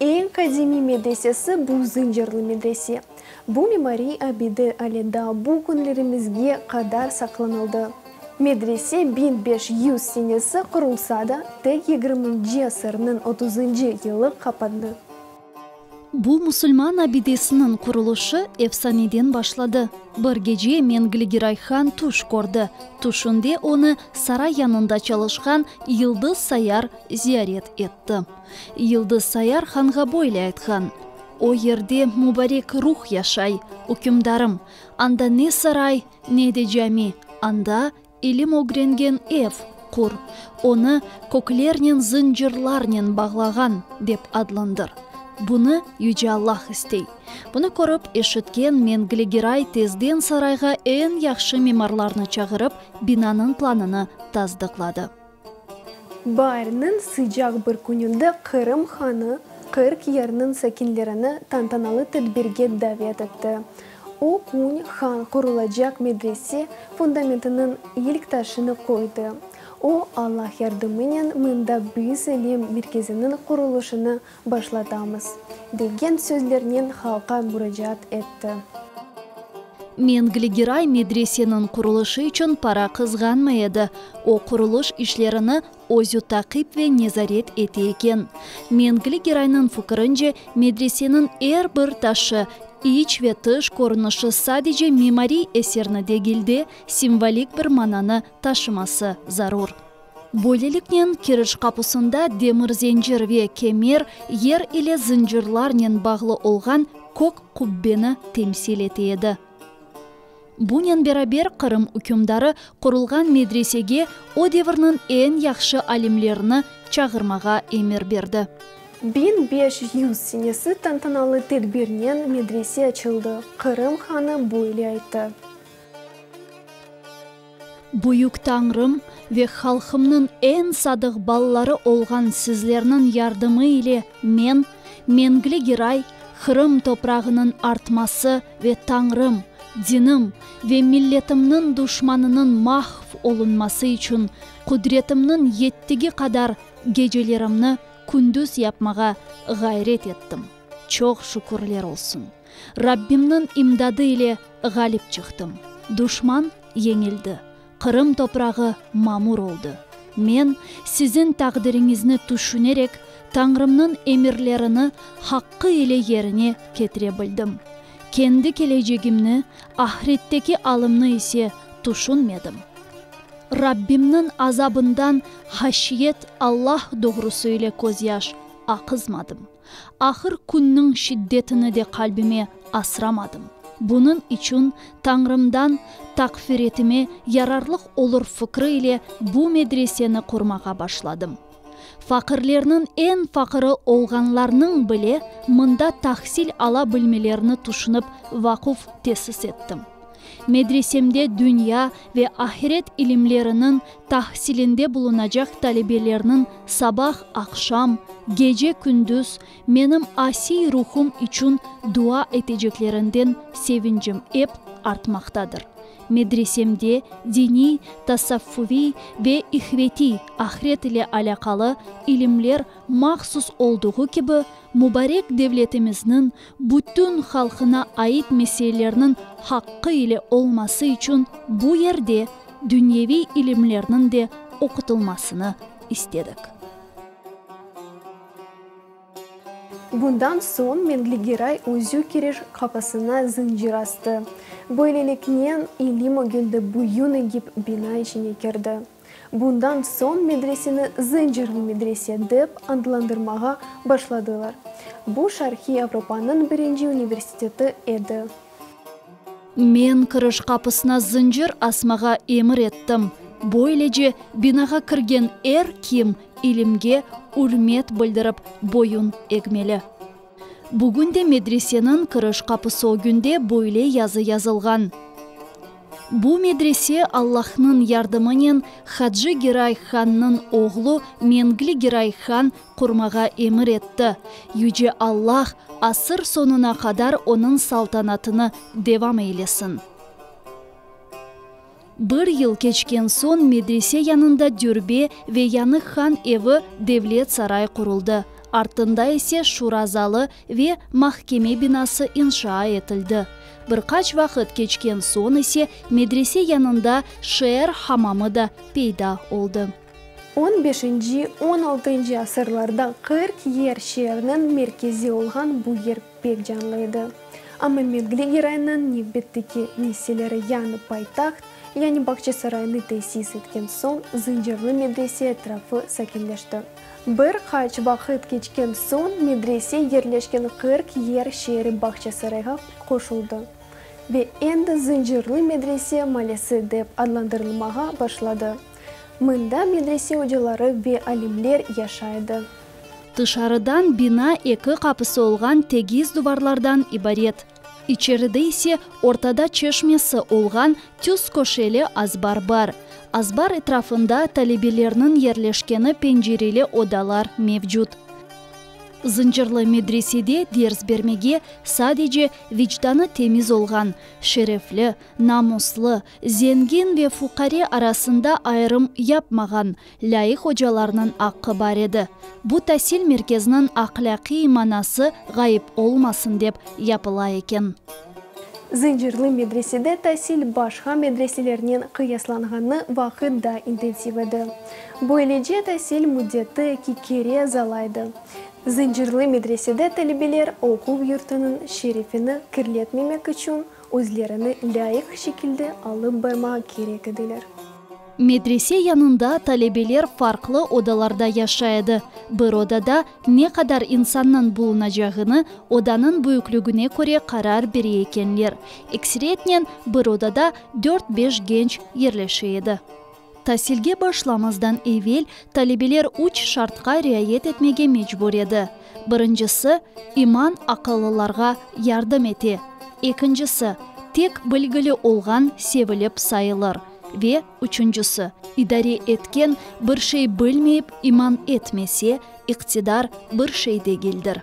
Eñ qadimiy medresesi bu zıncırlı medrese. Bu mimariy abide ale daa bu künlerimizge qadar saqlanıldı. Medrese biñ beş yüz senesi qurulsa da, tek yigirminci asırnıñ otuzıncı yılı qapandı. Bu musulman abidesiniñ qurulışı efsaneden başladı. Bir gece Mengli-gi Rayhan tüş kördi. Tüşünde onı saray yanında çalışqan Yıldız Sayar ziyaret etti. Yıldız Sayar hanğa böyle aytqan, O yerde mübarek ruh yaşay, ükümdarım, anda ne saray, ne de cami, anda, ilim ögrengen ev, qur, onı köklernen, zıncırlarnen bağlağan, dep adlandır. Bunı Yüce Allah istey. Bunı körip, eşitken Mengli Giray tezden sarayğa eñ yahşı mimarlarnı çağırıp, binanıñ planını tasdıqladı. Baarniñ sıcaq bir kününde Qırım hanı Qırk yerniñ sakinlerini tantanalı tedbirge davet etti. O kün han qurulacaq medrese fundamentiniñ ilk taşını qoydı. O, Allah yardımınen mında büyüs-ilim merkeziniñ qurulışını Başlatamız, degen sözlernen halqa muracaat etti. Mengli Giray medreseniñ qurulışı içün para qızğanmay edi, o, qurulış işlerini özü taqip ve nezaret ete eken. Mengli Giraynıñ fikirince, medreseniñ er bir taşı, iç ve tış körünişi sadece mimariy eserni degil de, simvolik bir mananı taşıması zarur. Böyleliknen, kiriş qapusında demir zencir ve kemer, yer ile zıncırlarnen bağlı olğan kök qubbeni temsil ete edi. Bunen beraber, Qırım ükümdarı qurulğan medresege o devirniñ eñ yahşı alimlerini çağırmağa emir berdi. Biñ beş yüz senesi tantanalı tedbirnen medrese açıldı. Qırım hanı böyle ayttı. Büyük Tañrım ve halqımnıñ eñ sadıq balaları olğan sizlerniñ yardımı ile men, meñli giray, Qırım toprağınıñ artması ve Tañrım, dinim ve milletimniñ duşmanınıñ mahv olunması içün qudretimniñ yettigi qadar gecelerimni kündüz yapmağa ğayret ettim. Çoq şükürler olsun! Rabbimniñ imdadı ile ğalip çıqtım. Duşman yeñildi, Qırım toprağı mamur oldı. Men, siziñ taqdiriñizni tüşünerek, Tañrımnıñ emirlerini haqqı ile yerine ketire bildim. Kendi kelecegimni, ahiretteki alımnı ise tüşünmedim. Rabbimniñ azabından haşyet, Allah doğrusı ile közyaş aqızmadım. Ahır künniñ şiddetini de qalbime asramadım. Bunıñ içün Tañrımdan taqfiretime yararlıq olur fikri ile bu medreseni qurmağa başladım. Faqirlerniñ eñ faqiri olğanlarnıñ bile mında tahsil ala bilmelerini tüşünip vaquf tesis ettim. Medresemde dünya ve ahiret ilimleriniñ tahsilinde bulunacaq talebelerniñ sabah, aqşam, gece, kündüz menim asiy ruhum içün dua eteceklerinden sevincim ep artmaqtadır. Medresemde diniy, tasavvufiy ve ihvetiy, ahiret ile alâqalı, ilimler mahsus olduğu kibi, mubarek devletimizniñ Bütün halqına ait meseelerniñ haqqı ile olması içün bu yerde dünyeviy ilimlerniñ de oqutılmasını istedik. Bundan soñ Mengli Geray özü kiriş qapısına zıncır astı. Böyleliknen, ilim ögündi büyün egip bina içine kirdi. Bundan soñ medreseni Zıncırlı medrese dep adlandırmağa başladılar. Bu Şarqiy Avropanıñ birinci universiteti edi. Men kiriş qapısına zıncır asmağa emir ettim. Böylece, binağa kirgen er kim ilimge ürmet bildirip boyun egmeli. Bugün de medreseniñ kiriş qapısı ögünde böyle yazı yazılğan, Bu medrese Allahnıñ yardımınen Hacı Giray hannıñ oğlu Mengli Giray han qurmağa emir etti. Yüce Allah asır soñuna qadar onıñ saltanatını devam eylesin. Bir yıl keçken soñ medrese yanında dürbe ve yanıq han evi, devlet saray quruldı. Artında ise şura zalı ve mahkeme binası inşaa etildi. Bir qaç vaqıt keçken soñ ise medrese yanında şeer hamamı da peyda oldı. On beşinci, on altıncı asırlarda qırk yer şeerniñ merkezi olğan bu yer pek canlı edi. Amma Mevgli Giraynıñ ne bitti ki, nesilleri yani paytaht, yani Bağçasaraynı tesis etken soñ Zıncırlı medrese etrafı sakinleşti. Bir qaç vaqıt keçken soñ medrese yerleşken qırk yer şeeri Bağçasarayğa qoşuldı ve endi Zıncırlı medrese malesi dep adlandırılmağa başladı. Mında medrese ocaları ve alimler yaşay edi. Tışarıdan bina eki qapısı olğan tegiz duvarlardan ibaret. İçeride ise ortada çeşmesi olğan tüz köşeli azbar bar. Azbar etrafında talebelerniñ yerleşkeni pencereli odalar mevcut. Zıncırlı medresede ders bermege sadece vicdanı temiz olğan, şerefli, namuslı, Zengin ve fuqare arasında ayırım yapmağan, lâyıq ocalarnıñ aqqı bar edi. Bu tasil merkeziniñ ahlâqiy manası ğayıp olmasın dep yapıla eken. Zıncırlı medresede tasil başqa medreselernen qıyaslanğanı vaqıt daa intensiv edi. Böylece tasil müddeti eki kere azalaydı. Zıncırlı medresede talebeler oquv yurtunıñ şerefini kirletmemek içün, Özlerini lâyıq şekilde alıp barmağa kerek ediler. Medrese yanında talebeler farqlı odalarda yaşay edi. Bir odada ne qadar insannıñ bulunacağını odanıñ büyüklügüne köre qarar bere ekenler. Ekseretnen bir odada dört-beş genç yerleşe edi. Tasilge başlamazdan evel talebeler üç şartqa riayet etmege mecbur edi, birincisi, iman aqıllılarğa yardım ete, ekincisi, tek bilgili olğan sevilip sayılır ve üçüncisi, idare etken bir şey bilmeyip iman etmese, iqtidar bir şey degildir.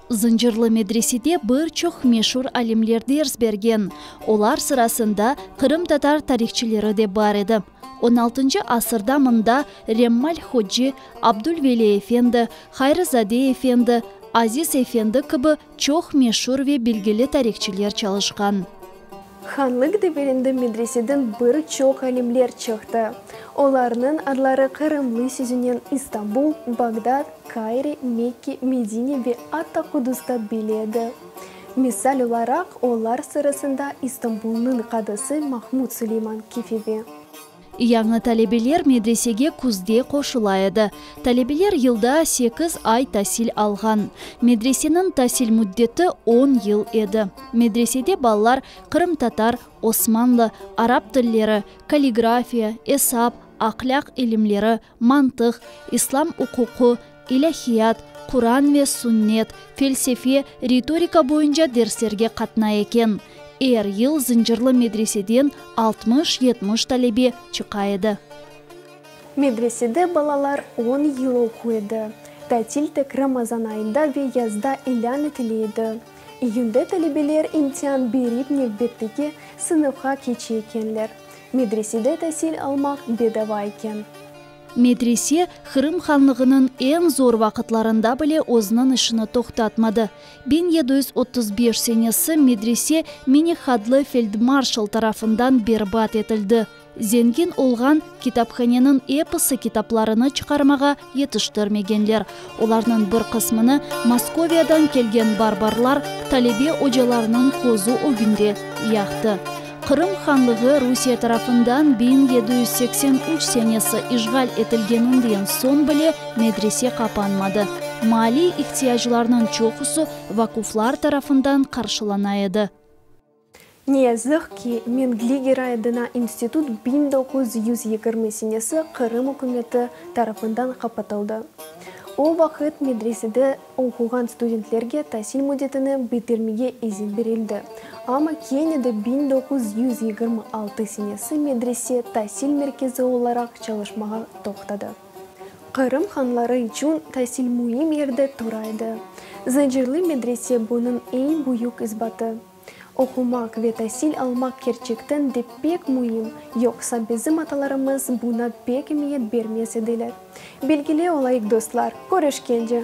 Zıncırlı medresede bir çoq meşur alimler ders bergen, olar sırasında qırımtatar tarihçileri de bar edi. On altıncı asırda mında Remmal Hocci, Abdulveli efendi, Hayrızade efendi, Aziz efendi kibi çoq meşur ve bilgili tarihçiler çalışqan. Hanlıq deverinde medreseden bir çoq alimler çıqtı. Olarnıñ adları qırımlı sözünen İstanbul, Bağdat, Kayre, Mekke, Medine ve atta Qudusta bile edi. Misal olaraq, olar sırasında İstanbulnıñ qadısı Mahmud Suleyman Kefevi. Yañı talebeler medresege küzde qoşula edi. Talebeler yılda sekiz ay tasil alğan. Medreseniñ tasil müddeti on yıl edi. Medresede balalar qırımtatar, osmanlı, arap tilleri, kalligrafiya, esap, ahlâq ilimleri, mantıq, İslâm uquqı, ilâhiyat, Quran ve Sünnet, felsefe, ritorika boyunca derslerge qatnay eken. Er yıl Zıncırlı medreseden altmış-yetmiş talebe çıqa edi. Medresede balalar on yıl oqu edi. Tatil tek Ramazan ayında ve yazda ilân etile edi. İyünde talebeler imtian berip nevbetteki sınıfqa keçe ekenler. Medresede tasil almaq bedava eken. Medrese, Qırım Hanlığınıñ eñ zor vaqıtlarında bile özüniñ işini toqtatmadı. Biñ yedi yüz otuz beş senesi medrese Minik Hadlı feldmarşal tarafından berbat etildi. Zengin olğan, kitaphaneniñ episi kitaplarını çıqarmağa yetiştirmegenler, olarnıñ bir qısmını Moskoviyadan kelgen barbarlar talebe ocalarınıñ közü ögünde yaqtı. Qırım Hanlığı Rusiye tarafından biñ yedi yüz seksen üç senesi işğal etilgeninden soñ bile medrese qapanmadı. Maaliy ihtiyaclarnıñ çoqusı vakuflar tarafından qarşılana edi. Ne yazıq ki, Mengli Giraedına institut biñ doquz yüz yigirmi senesi Qırım ükümeti tarafından qapatıldı. O vaqıt medresede oquğan studentlerge tasil müddetini bitirmege izin berildi, amma kene de biñ doquz yüz yigirmi altı senesi medrese tasil merkezi olaraq çalışmağa toqtadı. Qırım hanları içün tasil müim yerde tura edi. Zıncırlı medrese bunıñ eñ büyük isbatı. Oqumaq ve tasil almaq kerçekten de pek müim, yoqsa bizim atalarımız buna pek emiyet bermez ediler. Belgile olayıq dostlar, körüşkence!